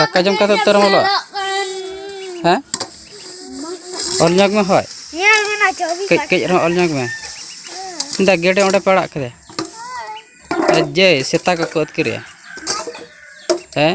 ᱫᱟᱠᱟ ᱡᱚᱢ ᱠᱟᱛᱮ ᱩᱛᱟᱹᱨ ᱮᱢ ᱚᱞᱚᱜᱼᱟ ᱦᱮᱸ ᱚᱞ ᱧᱚᱜ ᱢᱮ ᱦᱳᱭ ᱠᱟᱹᱡ ᱠᱟᱹᱡ ᱨᱮᱦᱚᱸ ᱚᱞ ᱧᱚᱜ ᱢᱮ ᱫᱟ ᱜᱮᱰᱮ ᱚᱸᱰᱮ ᱯᱮ ᱟᱲᱟᱜ ᱠᱮᱫᱮ ᱡᱮ ᱥᱮᱛᱟ ᱠᱚᱠᱚ ᱟᱹᱛᱠᱤᱨᱮᱭᱟ ᱦᱮᱸ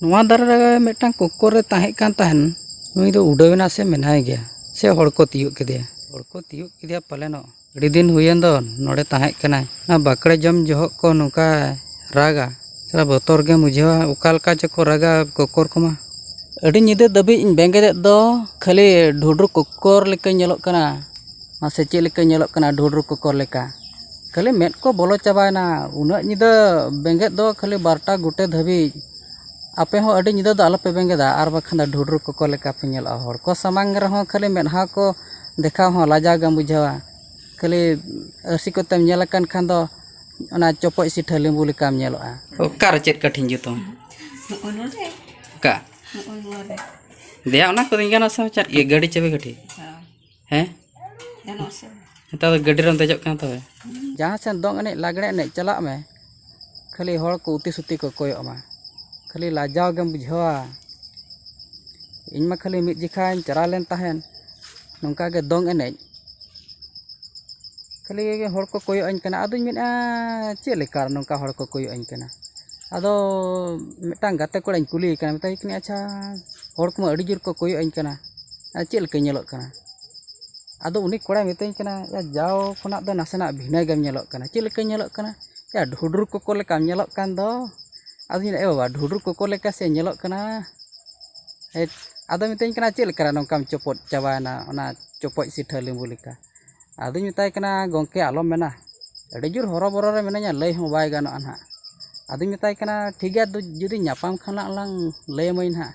ᱱᱚᱣᱟ ᱫᱟᱨᱮ ᱨᱮ ᱢᱤᱫᱴᱟᱝ ᱠᱚᱠᱠᱚᱨ ᱨᱮ ᱛᱟᱦᱮᱸ ᱠᱟᱱ ᱛᱟᱦᱮᱱ ᱱᱩᱭ ᱫᱚ ᱩᱰᱟᱹᱣ ᱮᱱᱟ ᱥᱮ ᱢᱮᱱᱟᱭ ᱜᱮᱭᱟ ᱥᱮ ᱦᱚᱲ ᱠᱚ ᱛᱤᱭᱳᱜ ᱠᱮᱫᱮᱭᱟ ᱦᱚᱲ ᱠᱚ ᱛᱤᱭᱳᱜ ᱠᱮᱫᱮᱭᱟ ᱯᱟᱞᱮᱱᱚᱜ ᱟᱹᱰᱤ ᱫᱤᱱ ᱦᱩᱭᱮᱱ ᱫᱚ ᱱᱚᱰᱮ ᱛᱟᱦᱮᱸ ᱠᱟᱱᱟᱭ ᱚᱱᱟ ᱵᱟᱠᱲᱮ ᱡᱚᱢ ᱡᱚᱦᱚᱜ ᱠᱚ ᱱᱚᱝᱠᱟ ᱨᱟᱜᱟ ᱥᱟᱞᱟ ᱵᱚᱛᱚᱨ ᱜᱮᱢ ᱵᱩᱡᱷᱟᱹᱣᱟ ᱚᱠᱟ ᱞᱮᱠᱟ ᱪᱚᱠᱚ ᱨᱟᱜᱟ ᱠᱚᱠᱠᱚᱨ ᱠᱚᱢᱟ ᱟᱹᱰᱤ ᱧᱤᱫᱟᱹ ᱫᱷᱟᱹᱵᱤᱡ ᱤᱧ ᱵᱮᱸᱜᱮᱫ ᱮᱫ ᱫᱚ ᱠᱷᱟᱹᱞᱤ ᱰᱷᱩᱰᱨᱩ ᱠᱚᱠᱠᱚᱨ ᱞᱮᱠᱟᱧ ᱧᱮᱞᱚᱜ ᱠᱟᱱᱟ ᱢᱟᱥᱮ ᱪᱮᱫ ᱞᱮᱠᱟᱧ ᱧᱮᱞᱚᱜ ᱠᱟᱱᱟ ᱰᱷᱩᱰᱨᱩ ᱠᱚᱠᱠᱚᱨ ᱞᱮᱠᱟ ᱠᱷᱟᱹᱞᱤ ᱢᱮᱫ ᱠᱚ ᱵᱚᱞᱚ ᱪᱟᱵᱟᱭᱮᱱᱟ ᱩᱱᱟᱹᱜ ᱧᱤᱫᱟᱹ ᱵᱮᱸᱜᱮᱫ ᱫᱚ ᱠᱷᱟᱹᱞᱤ ᱵᱟᱨᱚᱴᱟ ᱜᱚᱴᱮ ᱫᱷᱟᱹᱵᱤᱡ ᱟᱯᱮ ᱦᱚᱸ ᱟᱹᱰᱤ ᱧᱤᱫᱟᱹ ᱫᱚ ᱟᱞᱚᱯᱮ ᱵᱮᱸᱜᱮᱫᱟ ᱟᱨ ᱵᱟᱠᱷᱟᱱ ᱫᱚ ᱰᱷᱩᱰᱨᱩ ᱠᱚᱠᱚ ᱞᱮᱠᱟ ᱯᱮ ᱧᱮᱞᱚᱜᱼᱟ ᱦᱚᱲ ᱠᱚ ᱥᱟᱢᱟᱝ ᱨᱮᱦᱚᱸ ᱠᱷᱟᱹᱞᱤ ᱢᱮᱫᱦᱟ ᱠᱚ ᱫᱮᱠᱷᱟᱣ ᱦᱚᱸ ᱞᱟᱡᱟᱣ ᱜᱮᱢ ᱵᱩᱡᱷᱟᱹᱣᱟ ᱠᱷᱟᱹᱞᱤ ᱟᱹᱨᱥᱤ ᱠᱚᱛᱮᱢ ᱧᱮᱞ ᱟᱠᱟᱱ ᱠᱷᱟᱱ ᱫᱚ ᱚᱱᱟ ᱪᱚᱯᱚᱡ ᱥᱤᱴᱷᱟᱹ ᱞᱮᱵᱩ ᱞᱮᱠᱟᱢ ᱧᱮᱞᱚᱜᱼᱟ ᱚᱠᱟᱨᱮ ᱪᱮᱫ ᱠᱟᱹᱴᱷᱤᱧ ᱡᱩᱛ ᱟᱢᱟ ᱱᱚᱜᱼᱚ ᱱᱚᱰᱮ ᱚᱠᱟ ᱱᱚᱜᱼᱚ ᱱᱚᱣᱟ ᱨᱮ ᱫᱮᱭᱟ ᱚᱱᱟ ᱠᱚᱫᱚᱧ ᱜᱟᱱᱟ ᱥᱮ ᱪᱮᱫ ᱜᱟᱹᱰᱤ ᱪᱟᱹᱵᱤ ᱠᱟᱹᱴᱷᱤ ᱦᱮᱸ ᱱᱮᱛᱟᱨ ᱫᱚ ᱜᱟᱹᱰᱤ ᱨᱮᱢ ᱫᱮᱡᱚᱜ ᱠᱟᱱᱟ ᱛᱚᱵᱮ ᱡᱟᱦᱟᱸ ᱥᱮᱫ ᱫᱚᱝ ᱮᱱᱮᱡ ᱞᱟᱜᱽᱲᱮ ᱮᱱᱮᱡ ᱪᱟᱞᱟᱜ ᱢᱮ ᱠᱷᱟᱹᱞᱤ ᱦᱚᱲ ᱠᱚ ᱩᱛᱤ ᱥᱩᱛᱤ ᱠᱚ ᱠᱚᱭᱚᱜ ᱟᱢᱟ ᱠᱷᱟᱹᱞᱤ ᱞᱟᱡᱟᱣ ᱜᱮᱢ ᱵᱩᱡᱷᱟᱹᱣᱟ ᱤᱧ ᱢᱟ ᱠᱷᱟᱹᱞᱤ ᱢᱤᱫ ᱡᱚᱠᱷᱟᱧ ᱪᱟᱞᱟᱣ ᱞᱮᱱ ᱛᱟᱦᱮᱸᱫ ᱱᱚᱝᱠᱟ ᱜᱮ ᱫᱚᱝ ᱮᱱᱮᱡ ᱠᱷᱟᱹᱞᱤ ᱦᱚᱲ ᱠᱚ ᱠᱚᱭᱚᱜ ᱟᱹᱧ ᱠᱟᱱᱟ ᱟᱫᱚᱧ ᱢᱮᱱᱮᱫᱼᱟ ᱪᱮᱫ ᱞᱮᱠᱟ ᱱᱚᱝᱠᱟ ᱦᱚᱲ ᱠᱚ ᱠᱚᱭᱚᱜ ᱟᱹᱧ ᱠᱟᱱᱟ ᱟᱫᱚ ᱢᱤᱫᱴᱟᱱ ᱜᱟᱛᱮ ᱠᱚᱲᱟᱧ ᱠᱩᱞᱤᱭᱮ ᱠᱟᱱᱟ ᱢᱮᱛᱟᱭ ᱠᱟᱹᱱᱟᱹᱧ ᱟᱪᱪᱷᱟ ᱦᱚᱲ ᱠᱚᱢᱟ ᱟᱹᱰᱤ ᱡᱳᱨ ᱠᱚ ᱠᱚᱭᱚᱜ ᱟᱹᱧ ᱠᱟᱱᱟ ᱟᱨ ᱪᱮᱫ ᱞᱮᱠᱟᱧ ᱧᱮᱞᱚᱜ ᱠᱟᱱᱟ ᱟᱫᱚ ᱩᱱᱤ ᱠᱚᱲᱟᱭ ᱢᱤᱛᱟᱹᱧ ᱠᱟᱱᱟ ᱭᱟ ᱡᱟᱣ ᱠᱷᱚᱱᱟᱜ ᱫᱚ ᱱᱟᱥᱮᱱᱟᱜ ᱵᱷᱤᱱᱟᱹ ᱜᱮᱢ ᱧᱮᱞᱚᱜ ᱠᱟᱱᱟ ᱪᱮᱫ ᱞᱮᱠᱟᱧ ᱧᱮᱞᱚᱜ ᱠᱟᱱᱟ ᱭᱟ ᱰᱷᱩᱰᱨᱩ ᱠᱚᱠᱚ ᱞᱮᱠᱟᱢ ᱧᱮᱞᱚᱜ ᱠᱟᱱ ᱫᱚ ᱟᱫᱚᱧ ᱢᱮᱱᱫᱟ ᱮ ᱵᱟᱵᱟ ᱰᱷᱩᱰᱨᱩ ᱠᱚᱠᱚ ᱞᱮᱠᱟ ᱥᱮ ᱧᱮᱞᱚᱜ ᱠᱟᱱᱟ ᱦᱮᱴ ᱟᱫᱚᱭ ᱢᱤᱛᱟᱹᱧ ᱠᱟᱱᱟ ᱪᱮᱫ ᱞᱮᱠᱟᱨᱮ ᱱᱚᱝᱠᱟᱢ ᱪᱚᱯᱚᱫ ᱪᱟᱵᱟᱭᱮᱱᱟ ᱚᱱᱟ ᱪᱚᱯᱚᱡ ᱥᱤᱴᱷᱟᱹ ᱞᱮᱵᱩ ᱞᱮᱠᱟ ᱟᱫᱚᱧ ᱢᱮᱛᱟᱭ ᱠᱟᱱᱟ ᱜᱚᱢᱠᱮ ᱟᱞᱚᱢ ᱢᱮᱱᱟ ᱟᱹᱰᱤ ᱡᱳᱨ ᱦᱚᱨᱚ ᱵᱚᱨᱚ ᱨᱮ ᱢᱤᱱᱟᱹᱧᱟ ᱞᱟᱹᱭ ᱦᱚᱸ ᱵᱟᱭ ᱜᱟᱱᱚᱜᱼᱟ ᱦᱟᱸᱜ ᱟᱫᱚᱧ ᱢᱮᱛᱟᱭ ᱠᱟᱱᱟ ᱴᱷᱤᱠ ᱜᱮᱭᱟ ᱡᱩᱫᱤ ᱧᱟᱯᱟᱢ ᱠᱷᱟᱱ ᱞᱟᱝ ᱞᱟᱹᱭ ᱟᱹᱢᱟᱹᱧ ᱦᱟᱸᱜ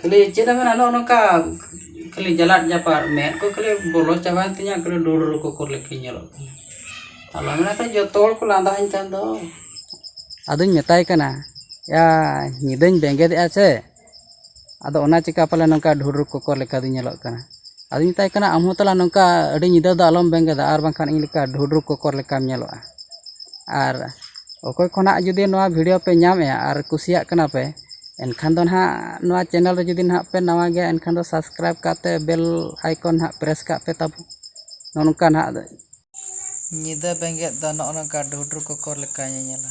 ᱠᱷᱟᱹᱞᱤ ᱪᱮᱫ ᱮᱢ ᱢᱮᱱᱟ ᱱᱚᱜᱼᱚ ᱱᱚᱝᱠᱟ ᱠᱷᱟᱹᱞᱤ ᱡᱟᱞᱟᱫ ᱡᱟᱯᱟᱫ ᱢᱮᱫ ᱠᱚ ᱠᱷᱟᱹᱞᱤ ᱵᱚᱞᱚ ᱪᱟᱵᱟᱭᱮᱱ ᱛᱤᱧᱟᱹ ᱠᱷᱟᱹᱞᱤ ᱰᱩᱰᱨᱩ ᱠᱚᱠᱚᱨ ᱞᱮᱠᱟᱧ ᱧᱮᱞᱚᱜ ᱠᱟᱱᱟ ᱟᱞᱚᱢ ᱢᱮᱱᱟ ᱠᱷᱟᱹᱞᱤ ᱡᱚᱛᱚ ᱦᱚᱲ ᱠᱚ ᱞᱟᱸᱫᱟ ᱟᱹᱧ ᱠᱟᱱ ᱫᱚ ᱟᱫᱚᱧ ᱢᱮᱛᱟᱭ ᱠᱟᱱᱟ ᱮᱭᱟ ᱧᱤᱫᱟᱹᱧ ᱵᱮᱸᱜᱮᱫᱮᱜᱼᱟ ᱥᱮ ᱟᱫᱚ ᱚᱱᱟ ᱪᱤᱠᱟᱹ ᱯᱟᱞᱮᱱ ᱱᱚᱝᱠᱟ ᱰᱩᱰᱨᱩ ᱠᱚᱠᱚᱨ ᱞᱮᱠᱟ ᱫᱚᱧ ᱧᱮᱞᱚᱜ ᱠᱟᱱᱟ ᱟᱫᱚᱧ ᱢᱮᱛᱟᱭ ᱠᱟᱱᱟ ᱟᱢ ᱦᱚᱸ ᱛᱟᱞᱟ ᱱᱚᱝᱠᱟ ᱟᱹᱰᱤ ᱧᱤᱫᱟᱹ ᱫᱚ ᱟᱞᱚᱢ ᱵᱮᱸᱜᱮᱫᱟ ᱟᱨ ᱵᱟᱝᱠᱷᱟᱱ ᱤᱧ ᱞᱮᱠᱟ ᱰᱷᱩᱰᱨᱩ ᱠᱚᱠᱚᱨ ᱞᱮᱠᱟᱢ ᱧᱮᱞᱚᱜᱼᱟ ᱟᱨ ᱚᱠᱚᱭ ᱠᱚ ᱱᱟᱦᱟᱜ ᱡᱩᱫᱤ ᱱᱚᱣᱟ ᱵᱷᱤᱰᱤᱭᱳ ᱯᱮ ᱧᱟᱢᱮᱜᱼᱟ ᱟᱨ ᱠᱩᱥᱤᱭᱟᱜ ᱠᱟᱱᱟ ᱯᱮ ᱮᱱᱠᱷᱟᱱ ᱫᱚ ᱱᱟᱦᱟᱜ ᱱᱚᱣᱟ ᱪᱮᱱᱮᱞ ᱨᱮ ᱡᱩᱫᱤ ᱱᱟᱦᱟᱜ ᱯᱮ ᱱᱟᱣᱟ ᱜᱮᱭᱟ ᱮᱱᱠᱷᱟᱱ ᱫᱚ ᱥᱟᱵᱥᱠᱨᱟᱭᱤᱵᱽ ᱠᱟᱛᱮ ᱵᱮᱞ ᱟᱭᱠᱚᱱ ᱱᱟᱦᱟᱜ ᱯᱨᱮᱥ ᱠᱟᱜ ᱯᱮ ᱛᱟᱵᱚᱱ ᱱᱚᱜᱼᱚ ᱱᱚᱝᱠᱟ ᱱᱟᱦᱟᱜ ᱧᱤᱫᱟᱹ ᱵᱮᱸᱜᱮᱫ ᱫᱚ ᱱᱚᱜᱼᱚ ᱱᱚᱝᱠᱟ ᱰᱷᱩᱰᱨᱩ ᱠᱚᱠᱚᱨ ᱞᱮᱠᱟ ᱧᱮᱧᱮᱞᱟ